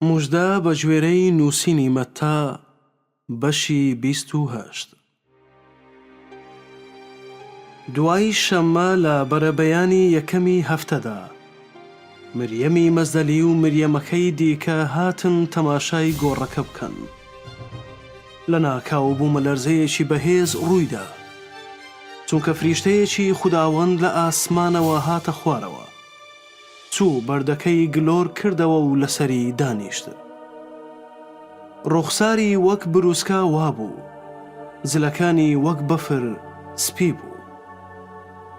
موژدە بە گوێرەی نووسینی مەتا بەشی بیست و هەشت. دوای شەممە لە بەرەبەیانی یەکەمی هەفتەدا، مریەمی مەزەلی و مریەمەکەی دیکە هاتن تەماشای گۆڕەکە بکەن. لەناکاو بوومەلەرزەیەکی بەهێز ڕوویدا، چونکە فریشتەیەکی خوداوەند لە ئاسمانەوە هاتە خوارەوە. چوو بەردەکەی گلۆر کردەوە و لەسەری دانیشت. ڕووخساری وەک برووسکە وا بوو. جلەکانی وەک بەفر سپی بوو.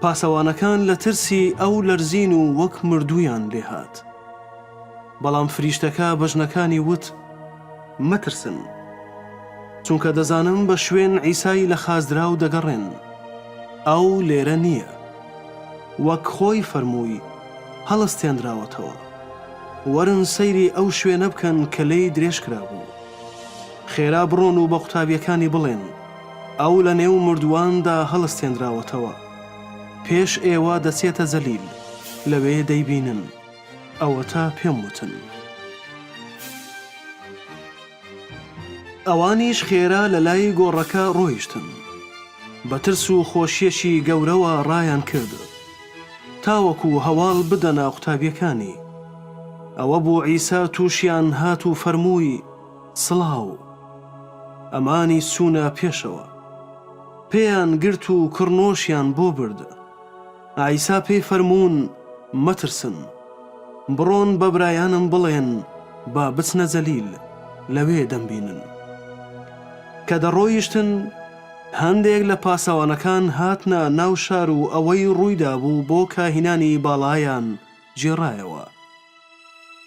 پاسەوانەکان لە ترسی ئەو لەرزین و وەک مردوویان لێ هات. بەڵام فریشتەکە بە ژنەکانی وت، مەترسن. چونکە دەزانم بە شوێن عیسای لە خازدراو دەگەڕێن. ئەو لێرە نییە. وەک خۆی فەرمووی، هەڵستێنراوەتەوە. وەرن سەیری ئەو شوێنە بکەن کە لێی درێژ کرابوو. خێرا بڕۆن و بە قوتابییەکانی بڵێن، ئەو لەنێو مردوواندا هەڵستێنراوەتەوە. پێش ئێوە دەچێتە جەلیل، لەوێ دەیبینن. ئەوەتا پێم وتن. ئەوانیش خێرا لە لای گۆڕەکە ڕۆیشتن. بە ترس و خۆشییەکی گەورەوە ڕایان کرد تاوەکوو هەواڵ بدەنە قوتابییەکانی. ئەوە بوو عیسا تووشیان هات و فەرمووی، سڵاو. ئەمانیش چوونە پێشەوە. پێیان گرت و کڕنۆشیان بۆ برد. عیسا پێی فەرموون، مەترسن. بڕۆن بە برایانم بڵێن با بچنە جەلیل، لەوێ دەمبینن. کە دەڕۆیشتن، هەندێک لە پاسەوانەکان هاتنە ناو شار و ئەوەی ڕوویدابوو بۆ کاهینانی باڵایان گێڕایەوە.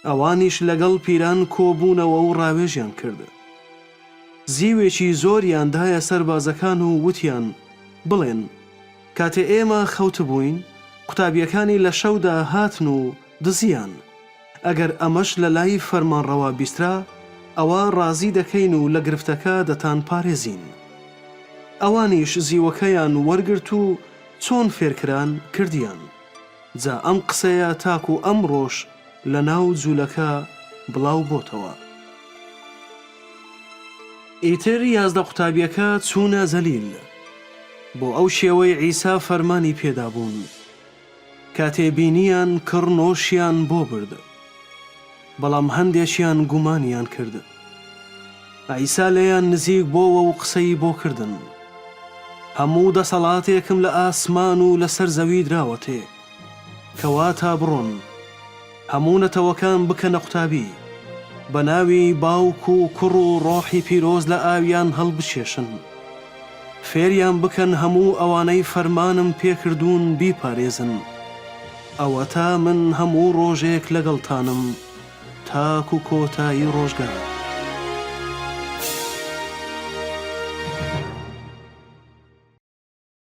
ئەوانیش لەگەڵ پیران کۆ بوونەوە و ڕاوێژیان کرد. زیوێکی زۆریان دایە سەربازەکان و وتیان، بڵێن، کاتێ ئێمە خەوتبووین، قوتابییەکانی لە شەودا هاتن و دزییان. ئەگەر ئەمەش لە لای فەرمانڕەوا بیسترا، ئەوا ڕازی دەکەین و لە گرفتەکە دەتانپارێزین. ئەوانیش زیوەکەیان وەرگرت و چۆن فێرکران، کردیان. جا ئەم قسەیە تاکو ئەمڕۆش لە ناو جولەکە بڵاو بۆتەوە. ئیتر یازدە قوتابیەکە چوونە جەلیل بۆ ئەو شێوەی عیسا فەرمانی پێدابوون. کاتێ بینیان کڕ نۆشیان بۆ برد. بەڵام هەندێکیان گومانیان کرد. عیسا لێیان نزیک بۆوە و قسەی بۆ کردن. هەموو دەسەڵاتێکم لە ئاسمان و لەسەر زەوی دراوەتێ. کەواتە بڕۆن، هەموو نەتەوەکان بکەنە قوتابی. بە ناوی باوک و کوڕ و ڕۆحی پیرۆز لە ئاویان هەڵبکێشن. فێریان بکەن هەموو ئەوانەی فەرمانم پێ کردوون بیپارێزن. ئەوەتا من هەموو ڕۆژێک لەگەڵتانم تاکو کۆتایی ڕۆژگار.